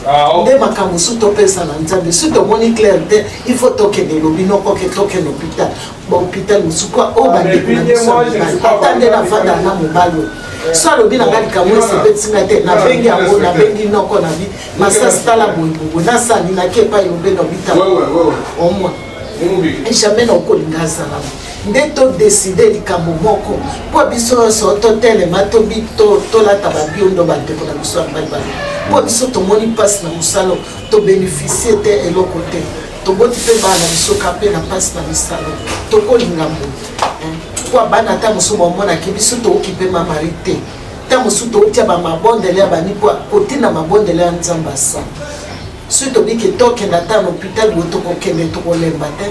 ah, nde makambo su topesa na nzambe su tomoni claire te il faut tokende lobi nokoke tokende hôpital bahôpital mosusu kwa oyo bandeko na biso ya mibali ata nde nafanda na mobali oyo so alobi na ngai likambo esepelisi ngai te nabengi yango nabengi noko na bi masasi tala boyebobo nasali nake epai obe na bitala omwa jamais nakolinga azala nde todeside likambo moko mpo biso nyonso totelema tolata babiondo bandeko na biso ya mbalbala mpo biso tomoni mpasi na mosalo tobenefisie te eloko te toboti mpe bana na biso ka mpe na mpasi na misalo tokolinga moto mpo eh, bana ata mosusu bamonaki biso touki mpe mamari te ta mosusu toutya bamabondele ya bani mpo kotina mabondele ya nzambe asala soki tobiki tokenda ata na hôpital bo tokokende tokolemba te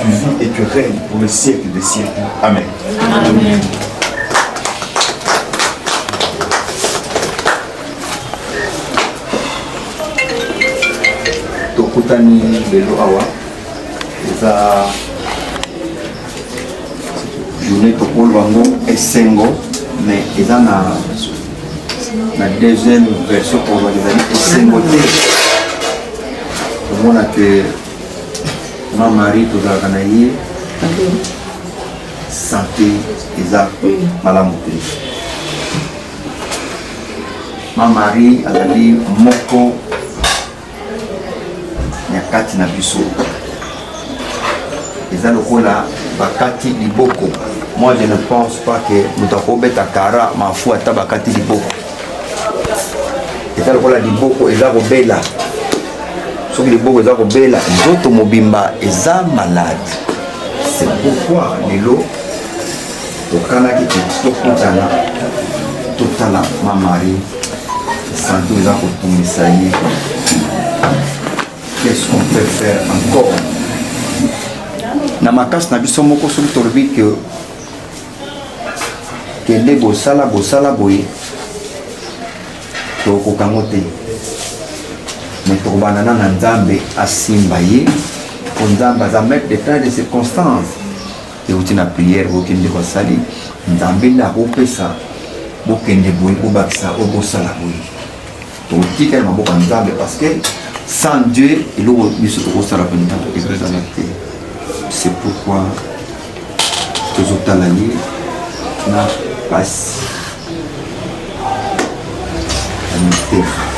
Tu vis et tu règnes pour le siècle des siècles. Amen. Amen. tokutani lelo awa eza journée tokolo yango esengo mais eza na na deuxième version koloba ezali esengo te omona ke ma mari tozalaka na ye sante eza malamu te ma mari azali moko ya kati na biso eza lokola bakati liboko moi je ne pense pas que moto akobeta kara mafu ata bakati liboko eza lokola liboko eza kobela soki liboko eza kobela nzoto mobimba eza malade c'est pourquoi lelo tokanaki tokutana totala mamari santo eza kotungisa ye qu'est-ce qu'on peut faire encore na makasi na biso moko soki tolobi que kende bosala bosala boye tokoka yango te me tokobandana na nzambe asimba ye mpo nzambe aza maitre de temps de circonstance euti na priere bokende kosali nzambe nde akopesa bokende boye bobakisa oyo bosala boye tokotika na maboko ya nzambe parce que sans dieu eloko biso tokosala mpenza ekozala te c'est pourquoi tozotala ye na pasi ya motema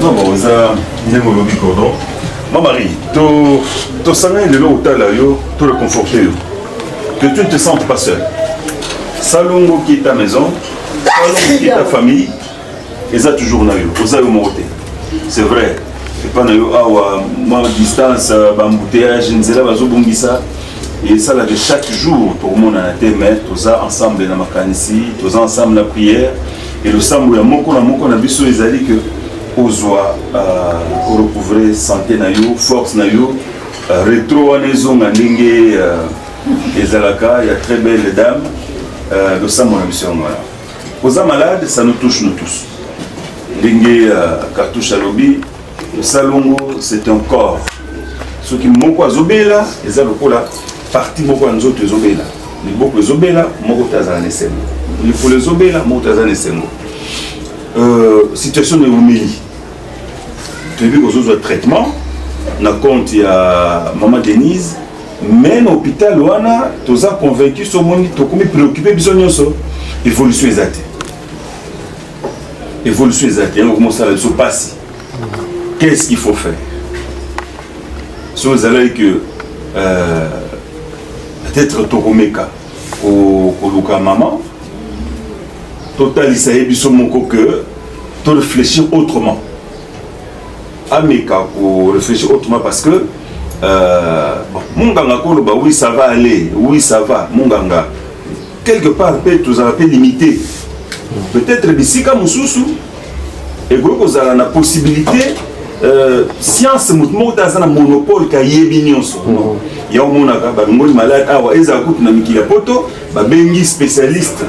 non bon oza ndenge olobi cordon ma marie tosangani lelo otala yo to reconforte yo Que tu ne te sentes pas seul. Salongo qui est ta maison, Salongo qui est ta famille, et ça toujours na yo, oza yo moko te. C'est vrai. epa na yo awa mwa distance bambouteillage nzela bazobongisa esalaka chaque jour tokomonana te mais toza ensemble na makanisi toza ensemble na prière e losambo ya moko na moko na biso ezali ke ozwa euh, orecouvre santé na yo force na yo Euh, retro wana ezonga ndenge euh, ezalaka ya très belle dame euh, losambo na biso yango wana oza malade ça nous touche nous tous ndenge cartouche alobi losalongo c'est un corps soki moko azobela eza lokola parti moko ya nzoto ezobela liboko ezobela moko te azala na esengo likolo ezobela moko te aza na esengo situation na eumeli toyebi kozozwa traitement na compte ya mama denise mais na hôpital wana toza convaincu somoni tokomi préoccupe biso nyonso évolution eza te évolution eza te yango komosala biso mpasi qu'est ce qu'il faut faire so ezalaki que euh, peut-être tokomeka koluka mama totalisa ye biso moko que to réfléchir autrement ameka ko réfléchir autrement parce que euh, monganga koloba oui ça va aller oui ça va monganga quelque part mpe tozala mpe limité peut-être bisika mosusu ekoki kozala na possibilité euh, science moto moko te aza na monopole kayebi nyonso non ya omonaka balongoli malade awa ezala kutu na mikili ya poto babengi spécialiste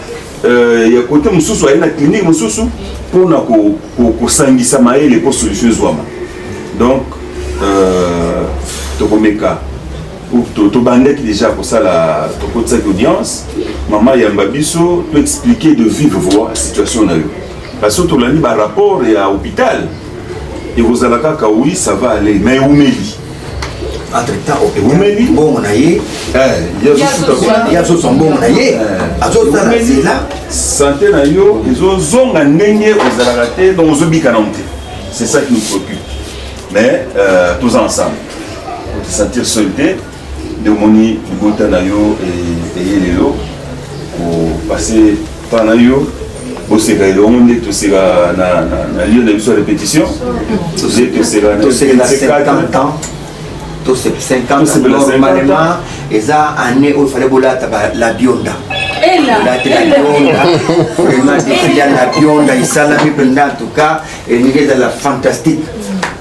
euh, ya kote mosusu aye na clinique mosusu mpo na kosangisa ko, ko mayele mpo solution ezwama donc euh, tokomeka tobandaki déjà kosala tokotisaki audience mama yamba biso to expliquer de vive voix situation na yo Parce que tolandi ba rapport ya hôpital ekozala kaka oui ça va aller mais eumeli entre temps eumeli mbongo na ye eh, yazozwa mbongo na ye eh. azozala nzela sante na yo ezozonga ndenge ozalaka te donc ozobika nango te c'est ça qui nous préoccupe mais euh, toza ensemble otisentir seul te nde omoni libota na yo eh, eye lelo kopase temps na yo boseka elongo nde toseka na lieu na biso ya répétition nde toseka na 50 ans normalement eza année oyo fale bolata la bionda latela bionda vraiment defile ya la bionda esalami mpenza en tout cas elingi ezala fantastique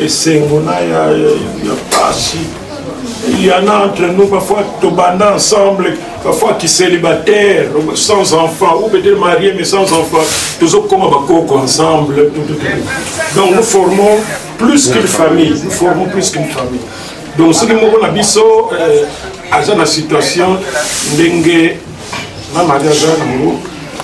esengo na ya, ya, ya pasi il y en a entre nous parfois tobanda ensemble parfois qui célibataire sans enfant ou peut-être marié mais sans enfant tozokoma bakoko ensemble donc nous formons plus qu'une famille nous formons plus qu'une famille donc soki moko na biso euh, aza na situation ndenge na mariage yango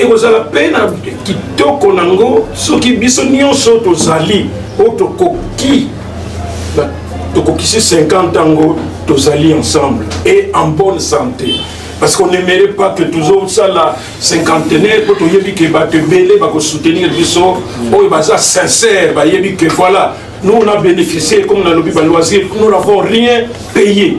ekozala mpe na kitoko na yango soki biso nyonso tozali oyo tokoki tokokisi 50 yango tozali ensemble et en bonne santé parce qu'on n'aimerait pas que tozosala cinquantenaire mpo toyebi ke bato ebele bakosoutenir biso oyo baza sincère bayebi ke voilà nous on a bénéficié comme nalobi baloisir nous n'avons rien payé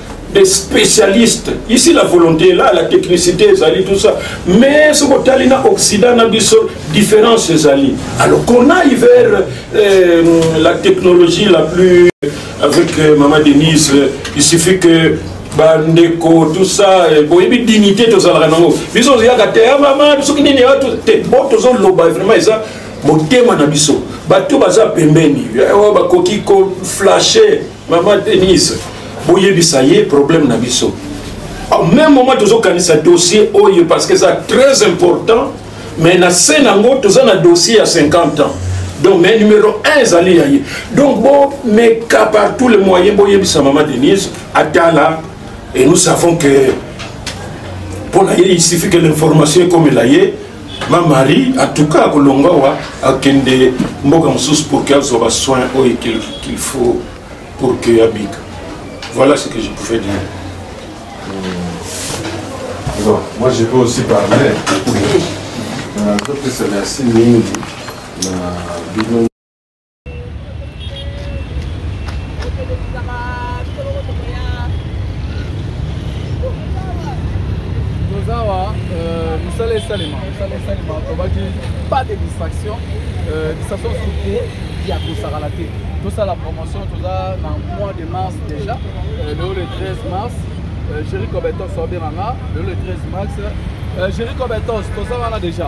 des spécialistes ici la volonté est là la technicité ezali tout ça mais soki otali na occident na biso différence ezali alors qu'on aille vers euh, la technologie la plus avec euh, mama denise il suffit que bandeko tout ça euh, boyebi dignité tozalaka nango biso oyaka te ya ah, mama soki nini ah, te bo tozoloba vraiment eza motema na biso bato baza pembeni eh, oh, bakoki koflashe Maman Denise, boyebisa ye problème na biso. Au même moment tozokanisa dossier oyo parce que ça très important mais na se nango toza na dossier ya 50 ans donc mais numéro 1 ezali ya ye donc bomeka par tous les moyens boyebisa mama denise atala et nous savons que mpo na ye il suffit que l'information ekomela ye ma marie atuka akolongwa wa akende mboka mosusu pour que azwa basoin oyo qu'il faut pour que abika voilà ce que je pouvais dire hmm. bon moi je peux aussi parler nazopesa merci mingi na bino tozawa euh, misala esalema misala esalema tobaki pas de distraction euh, distraction surtout ya kosakana te tosala promotion toza na mois de mars déjà euh, lelo le 13 mars géri cobetos obenganga lelo le 13 mars géri cobetos toza wana déjà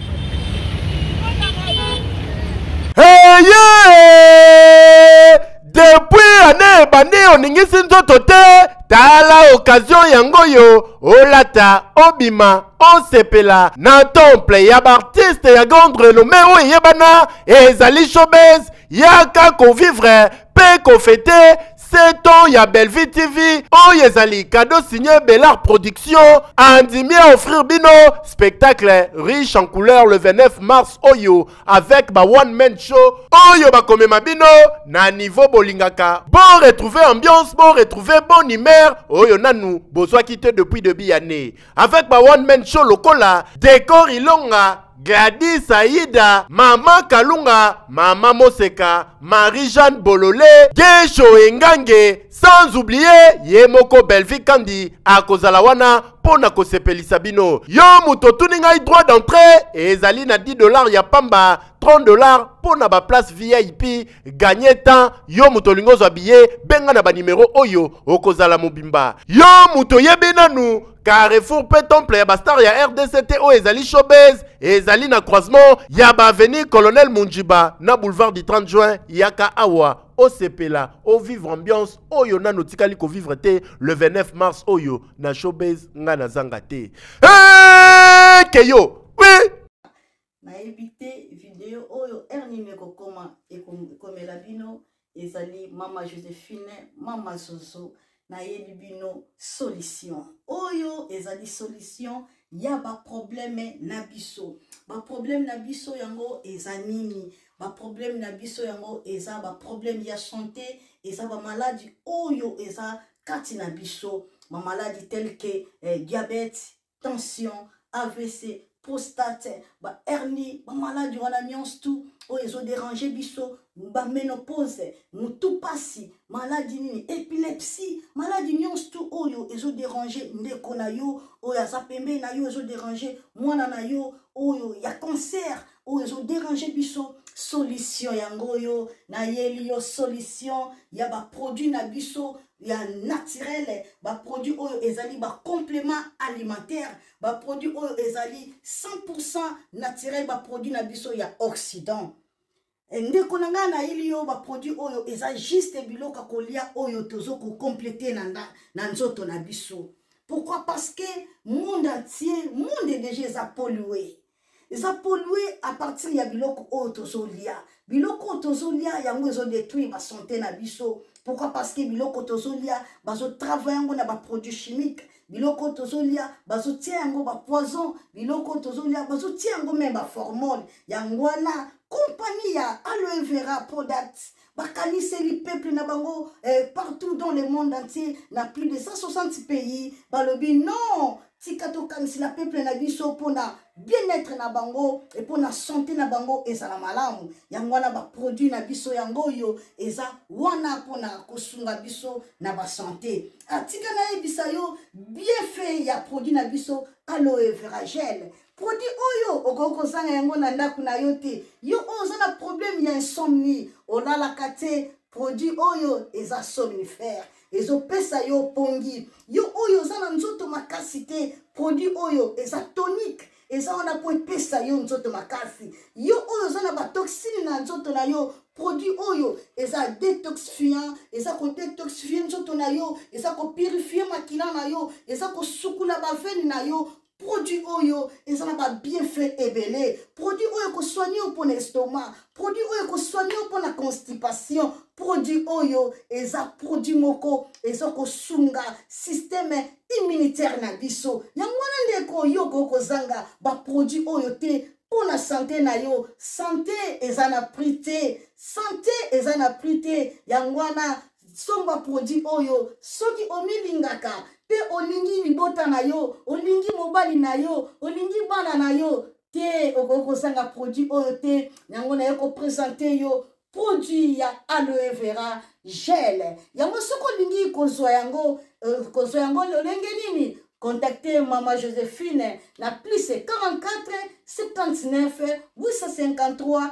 oningisi nzoto te tala okazio yango oyo olata obima osepela na temple ya baartiste ya grande renome oyo eyebana ezali showbase yaka kovivre mpe kofete 7 ans ya Bellevue TV oyo ezali cadeau signé Belart Production andimi a offrir bino spectacle riche en couleur le 29 mars oyo avec ba one man show oyo bakomema bino na niveau bolingaka bo retrouver ambiance bo retrouver bonne humeur oyo nanu bozwaki te depuis debut ya année avec ba one man show lokola Decor Ilonga, Gladys Aida, Mama Kalunga, Mama Moseka, Marie-Jeanne Bolole, Gesho Engange, sans oublier ye moko Bellevue Kandi akozala wana mpo na kosepelisa bino. Yo moto otuni ngai droit d'entrée ezali na 10 dollars ya pamba, 30 dollars mpo na ba place VIP ganye temps yo moto olingi ozwa biye benga na banimero oyo okozala mobimba yo moto oyebi nanu carrefour mpe temple ya bastar ya rdc te oyo ezali showbase ezali na croisement ya baavenue colonel munjiba na boulevard du 30 juin yaka awa osepela ovivre ambiance oyo nano otikali kovivre te le 29 mars oyo na showbase ngai nazanga te hey, keyo oui. nayebi te video oyo heure nini ekokoma ekomela bino ezali mama josephine mama zozo nayebi bino solution oyo ezali solution ya baprobleme na biso baprobleme na biso yango eza nini baprobleme na biso yango eza baprobleme ya sante eza bamaladi oyo eza kati na biso bamaladi telke eh, diabete tension avc prostate bahernie bamaladi wana nyonso tu oyo ezoderange biso baménopause motu mpasi maladi nini epilepsie maladi nyonso tu oyo ezoderange ndeko na yo oyo aza pembeni na yo ezoderange mwana na yo oyo ya cancer oyo ezo déranger biso solution yango oyo nayeli yo solution ya baproduit na biso ya naturele baproduit oyo ezali bacomplément alimentaire baproduit oyo ezali 100 naturel baproduit na biso ya occident eh, ndeko na ngai nayeli yo baproduit oyo eza juste biloko ya kolia oyo tozo kocomplete na, na, na nzoto na biso pourquoi parce que monde entier monde deja eza polue eza polue à partir ya biloko oyo tozolia biloko oyo tozolia yango ezodetruire basante na biso pourquoi parce que biloko tozolia bazotravaille yango na baproduit chimique biloko tozolia bazotia yango bapoison biloko tozolia bazotia yango meme baformone yango wana kompani ya aloe vera product bakaniseli peuple na bango eh, partout dans le monde entier na plus de 160 pays balobi non tika tokanisela peuple na biso mpona bien-être na bango e mpona sante na bango ezala malamu yango wana baproduit na biso yango oyo eza wana mpona kosunga biso na basante atika ah, nayebisa yo bienfait ya produit na biso aloe veragel produit oyo okoki kozanga yango na ndako na yo te yo oyo oza na problème ya insomnie olalaka te produit oyo eza somnifère ezopesa yo pongi yo oyo oza na nzoto makasi te produit oyo eza tonique eza wana mpo epesa yo nzoto makasi yo oyo oza na batoxine na nzoto na yo produit oyo eza detoxifiant eza kodetoxifie nzoto na yo eza kopurifie makila na yo eza kosukula bavene na yo produit oyo eza na babienfait ebele produit oyo ekosoigne yo mpo na estomac produit oyo ekosoigne yo mpo na constipation produit oyo eza produit moko eza kosunga systeme immunitaire na biso yango wana ndeko yo okoki kozanga baproduit oyo te mpo na sante na yo sante eza na prix te sante eza na prix te yango wana somba produit oyo soki omilingaka mpe olingi libota na yo olingi mobali na yo olingi bana na yo te okoki kozanga produit oyo te yango naye kopresente yo produit ya aloe vera gel yango soki olingi kozwa yango euh, kozwa yango lolenge nini contacte mama josephine na plus 44 79 853